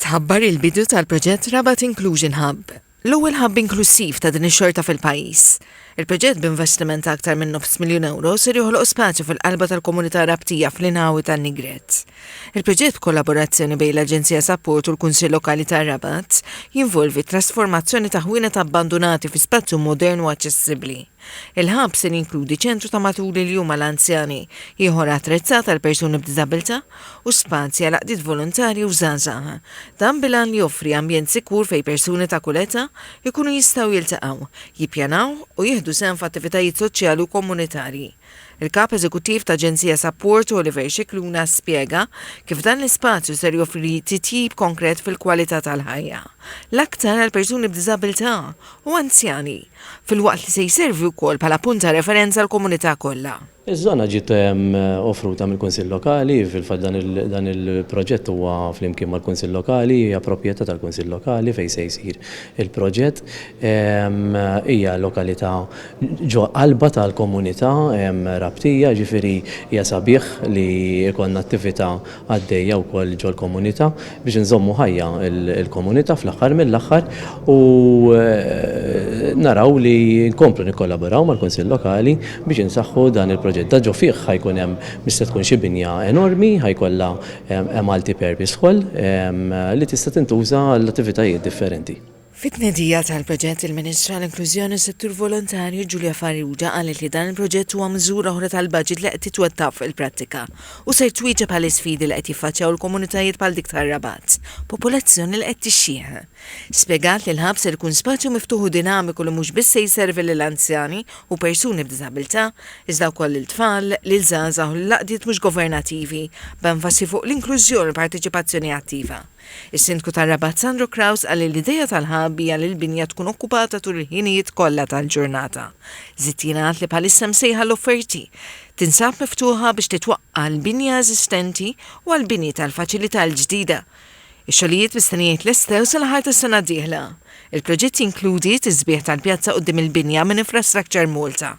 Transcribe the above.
Tħabbar il-bidu tal-proġett Rabat Inclusion Hub, l-ewwel ħabb inklussiv ta' din ix-xorta fil-pajjiż. Il-proġett b'investiment ta' aktar minn nofs miljun ewro ser joħloq spazju fil-qalba tal-komunità Rabtija fl-inħawi tan-Nigret. Il-proġett b'kollaborazzjoni bejn l-Aġenzija Sapport u l-Kunsill Lokali tar-Rabat jinvolvi t-trasformazzjoni ta' ħwienet abbandunati fi spazju modern u aċċessibbli. Il-ħabb ser jinkludi ċentru ta' matul il-jum għal anzjani, ieħor attrezzat għal persuni b'diżabilità, u spazji għal għaqdiet volontarji u żgħażagħ. Dan bil-għan li joffri ambjent sikur fejn persuni ta' kull età jkunu jistgħu jiltaqgħu, jippjanaw u jieħdu sehem f'attivitajiet soċjali u komunitarji. Il-Kap Eżekuttiv ta' Aġenzija Sapport, Oliver Scicluna, spjega kif dan l-ispazju ser joffri titjib konkret fil-kwalità tal-ħajja, l-aktar għal persuni b'diżabilità u anzjani, filwaqt li se jservi wkoll bħala punt ta' referenza għall-komunità kollha. Iż-żona ġiet offruta mill-Kunsill Lokali, fil-fatt dan il-proġett huwa flimkien mal-Kunsill Lokali, hija proprjetà tal-Kunsill Lokali fejn se jsir il-proġett. Hija lokalità ġo qalba tal-komunità Rabtija, jiġifieri hija sabiħ li jkollna attività għaddejja wkoll ġol-komunità biex inżommu ħajja l-komunità fl-aħħar mill-aħħar u naraw li nkomplu nikkollaboraw mal-Kunsill Lokali biex insaħħu dan il-proġett. Da ġo fih ħajkun hemm mhix se tkun xi binja enormi, ħajkollha multi-purpose hall li tista' tintuża għall-attivitajiet differenti. Fit-tnedija tal-proġett, il-Ministru għall-Inklużjoni u s-Settur Volontarju Julia Farrugia qalet li dan il-proġett huwa miżura oħra tal-baġit li qed titwettaq fuq il-prattika u ser twieġeb għall-isfidi li qed jiffaċċjaw il-komunitajiet bħal dik tar-Rabat, popolazzjoni li qed tixjieħ. Spjegat li l-Hub ser ikun spazju miftuħ u dinamiku li mhux biss se jservi lil anzjani u persuni b'diżabilità, iżda wkoll lil tfal, lil żgħażagħ u lil għaqdiet mhux governativi, b'enfasi fuq l-inklużjoni u l-parteċipazzjoni attiva. Is-Sindku tar-Rabat Sandro Craus qal li l-idea tal-hub hija li l-binja tkun okkupata tul il-ħinijiet kollha tal-ġurnata. Żied jingħad li bħalissa msejħa l-offerti tinsab miftuħa biex titwaqqa' għall-binja eżistenti u għall-bini tal-faċilità l-ġdida. Ix-xogħlijiet mistennija jitlestew sal-aħħar tas-sena d-dieħla. Il-proġett jinkludi tisbiħ tal-pjazza quddiem il-binja minn Infrastructure Malta.